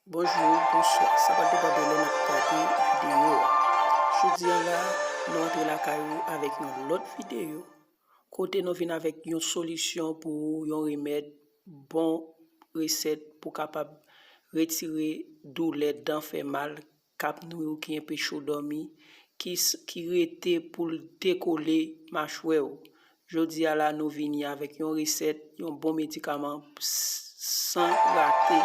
Bonjou, bonswa, sa pa depande lè nap gade videyo a. Jodi an la, nou antre lakay ou avèk yon lòt videyo, kote nou vin avèk yon solisyon pou ou, yon remèd, bon resèt pou kapab retire doulè dan fè mal Kap nwi w ki enpechew dòmi, ki rete poul dekole machwèw. Jodia la nou vini avèk yon resèt, yon bon medikaman san rate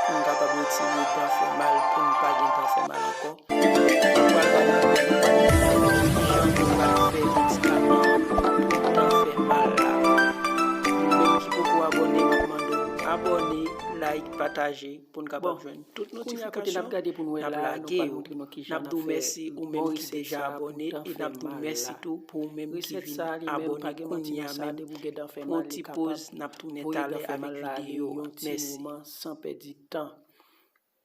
poun kapab retire dan fè mal poun pa gen dan fè mal ankò. Nou pral pale avèk yon doktè sou kijan nou pral fè medikaman pou dan fè mal la. Nou menm ki poko abòne map mande w abòne, like, pataje. pou n kapab jwenn tout notifikasyon n ap lage yo. N ap di w mèsi ou menm ki deja abòne e n ap di w mèsi tou pou ou menm ki vin abòne kounye a menm. Pran yon ti poz, n ap tounen talè avèk videyo a. Mèsi.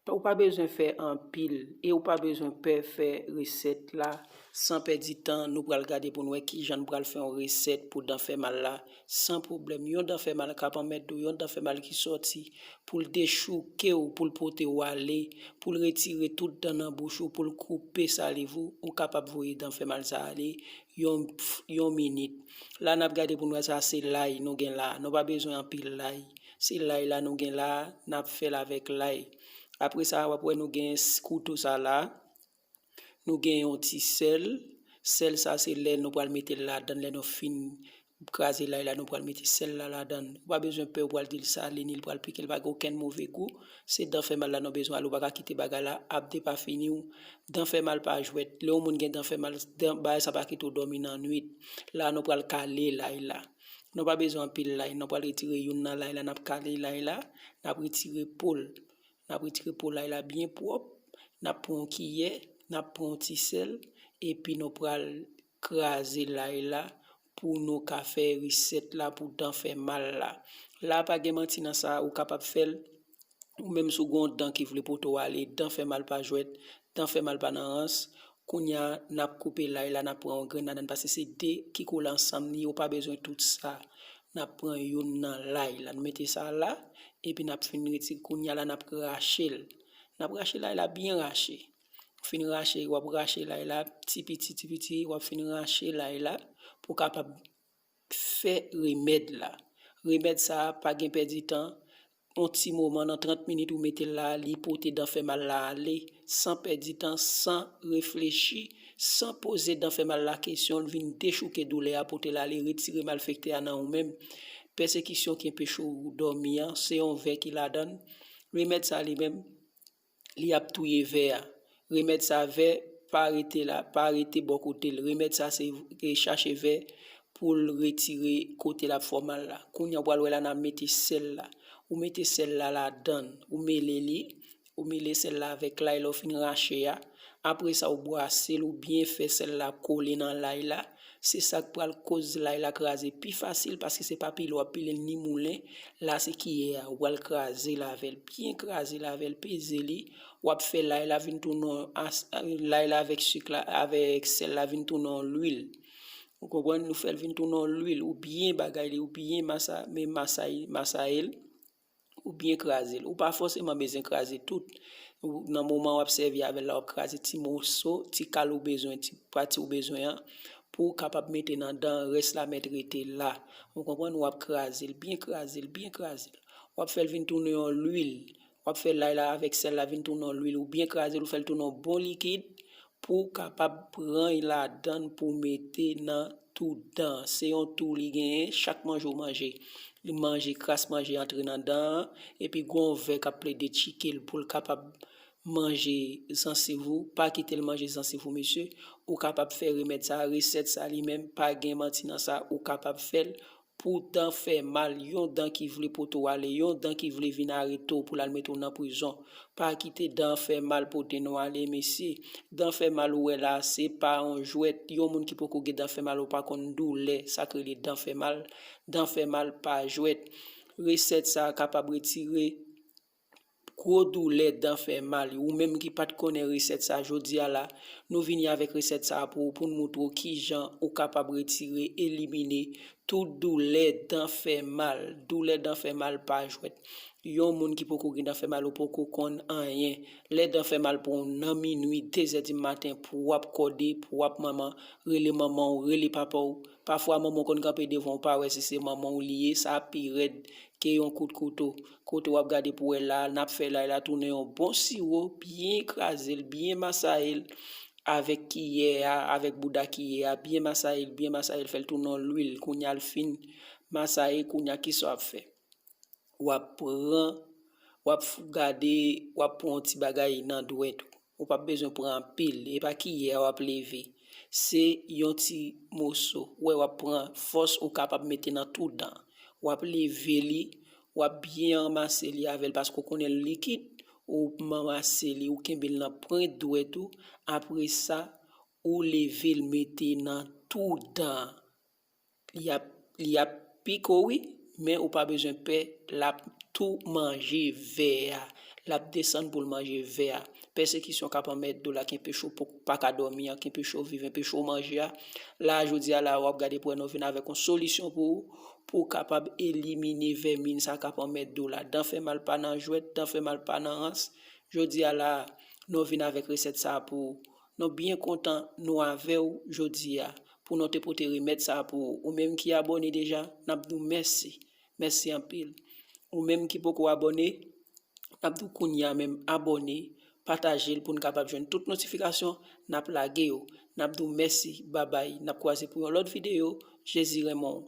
Ou pa bezwen fè anpil e ou pa bezwen pè fè resèt la. San pèdi tan, nou pral gade pou n wè kijan n pral fè yon resèt pou dan fè mal la. San pwoblèm, yon dan fè mal k ap anmède w, yon dan fè mal ki sòti pou l dechouke w, pou l pote w ale, pou l retire tout dan nan bouch ou, pou l koupe saliv ou, ou kapab voye dan fè mal sa a ale yon yon minit. La n ap gade pou n wè sa se lay nou gen la a. Nou pa bezwen anpil lay. Se lay la nou gen la a, n ap fè l avèk lay. Apre sa a, w ap wè nou gen kouto sa la a. Nou gen yon ti sèl, sèl sa se lè nou pral mete l ladan, lè nou fin kraze lay la nou pral mete sèl la ladan. Ou pa bezwen pè ou pral di l sale ni l pral pike l pa gen okenn move gou. Se dan fè mal la nou bezwen al ou pa ka kite bagay la ap depafini ou. Dan fè mal pa jwèt, lè yon moun gen dan fè mal, dan bagay sa pa kite ou dòmi nan nwit. La nou pral kale lay la. Nou pa bezwen anpil lay, nou pral retire youn nan lay la, n ap kale lay la, n ap retire po l. N ap retire po lay la byen pwòp, n ap pran yon kiyè, n ap pran yon ti sèl epi nou pral kraze lay la pou nou ka fè resèt la pou dan fè mal la. La pa gen manti nan sa, ou kapab fè l, ou menm si w gen yon dan ki vle pote w ale, dan fè mal pa jwèt, dan fè mal pa nan rans, Kounya nap koupe lay la nap pran yon grenn ladann pase se 2 ki kole ansanm li ye ou pa bezwen tout sa nap pran youn nan lay la nou mete sa la epi nap fin retire kounya la nap rachel nap rache lay la byen rache ou fin rache wap rache lay la ti piti ti piti wap fin rache lay la pou kapab fè remèd la. Remèd sa a pa gen pèdi tan, yon ti moman nan 30 minit ou mete l la a li pote dan fè mal la ale san pèdi tan, san reflechi, san poze dan fè mal la kesyon, li vin dechouke doulè a pote l ale retire malfektè a nan ou menm. Pèsekisyon ki enpeche w dòmi an se yon vè ki ladan l. Remèd sa a li menm. Li ap touye vè a. Remèd sa vè pa rete la, pa rete bò kote l. Remèd sa se chache vè pou l retire kote l ap fè w mal la. Kounye a ou pral wè la nan mete sèl la. Ou mete sèl la ladan l, ou mele li, ou mele sèl la avèk lay lè w fin rache a. Apre sa ou bwase l, ou byen fè sèl la kole nan lay la. Se sak pral koz lay la kraze pi fasil paske se pa pile wap pilel ni moulen la se kiyè a ou pral krazel avèl byen krazel avèl peze li wap fè lay la vin tounen yon as lay la avèk sik la avèk sèl la vin tounen yon lwil ou konprann nou fèl vin tounen yon lwil ou byen bagay li ou byen masa men masay masayel ou byen kraze l. Ou pa fòseman bezwen kraze tout. Nan moman w ap sèvi avè l la, w ap kraze ti moso, ti kal ou bezwen, ti pati ou bezwen an, pou w kapab mete nan dan, rès la mèt rete la. Ou konprann? W ap kraze l, byen kraze l, byen kraze l. W ap fè l vin tounen yon lwil. W ap fè lay la avèk sèl la vin tounen yon lwil. Ou byen kraze l, ou fè l tounen yon bon likid. Pouw kapab prany ladann pouw mete nan tou dan an. Se yon tou li genyen chak manje ou manje. Li manje kras manje antre nan dan an epi gon vè kap plede tchikel poul kapab manje zansiv ou. Pa kitel manje zansiv ou mesye. Ou kapab fè remèd sa, resèt sa li menm pa gen manti nan sa ou kapab fèl Poutan fè mal yon dan ki vle pote w ale yon dan ki vle vin arete w pou l al mete w nan prizon pa kite dan fè mal pote nou ale mesye dan fè mal ou wè la a se pa yon jwèt yon moun ki poko gen dan fè mal ou pa konn doulè sa k rele dan fè mal dan fè mal pa jwèt resèt sa a kapab retire Gwo doulè dan fè mal wi ou menm ki pat konnen resèt sa jodia la nou vini avèk resèt sa pou ou poun moutre w kijan ou kapab retire elimine tout doulè dan fè mal doulè dan fè mal pa jwèt yon moun ki poko gen dan fè mal ou poko konn anyen lè dan fè mal pou ou nan minwi dezè di maten pou wap kòde pou wap manman rele manman w rele papa w pafwa manman w konn kanpe devan w pa wè si se manman w li ye sa pi rèd ke yon kout kouto Kote wap gade pou wè laa nap fè lay la tounen yon bon siwo byen krazel byen masayel avèk kiyè a avèk bouda kiyè a byen masayel byen masayel fèl tounen yon lwil kounya l fin masaye kounya kisa wap fè wap pran wap gade wap pran yon ti bagay nan dwèt ou Ou pap bezwen pran anpil, e pa kiyè a wap leve. Se yon ti moso, wè wap pran fòs ou kapab mete nan tou dan. Wap leve li, wap byen anmase li avèl paske ou konnen li likid, ou manmase li, ou kenbe l nan pwent dwèt ou, apresa ou leve l mete nan tou dan. Li ap pike w wi, men ou pa bezwen pè, l ap tou manje vè a. L ap desann pou l manje vè a. Pèsekisyon k ap anmède w la ki enpeche w pa ka dòmi an, ki enpeche w viv, enpeche w manje a, la a jodi a la a w ap gade pou wè nou vin avèk yon solisyon pou ou, pou w kapab elimine vèmin sa k ap anmède w la. Dan fè mal pa nan jwèt, dan fè mal pa nan rans. Jodi a la a, nou vin avèk resèt sa a pou ou. Nou byen kontan nou avew jodia pou nou te pote remed sa pou ou. Ou menm ki abone deja, nap diw mèsi. Mèsi anpil. Ou menm ki poko abone, nap diw kounya menm abone, patajel poun kapab jwenn tout notifikasyon nap lage yo. Nap diw mèsi, babay. Nap kwaze pou yon lot video. Jezi renmen w.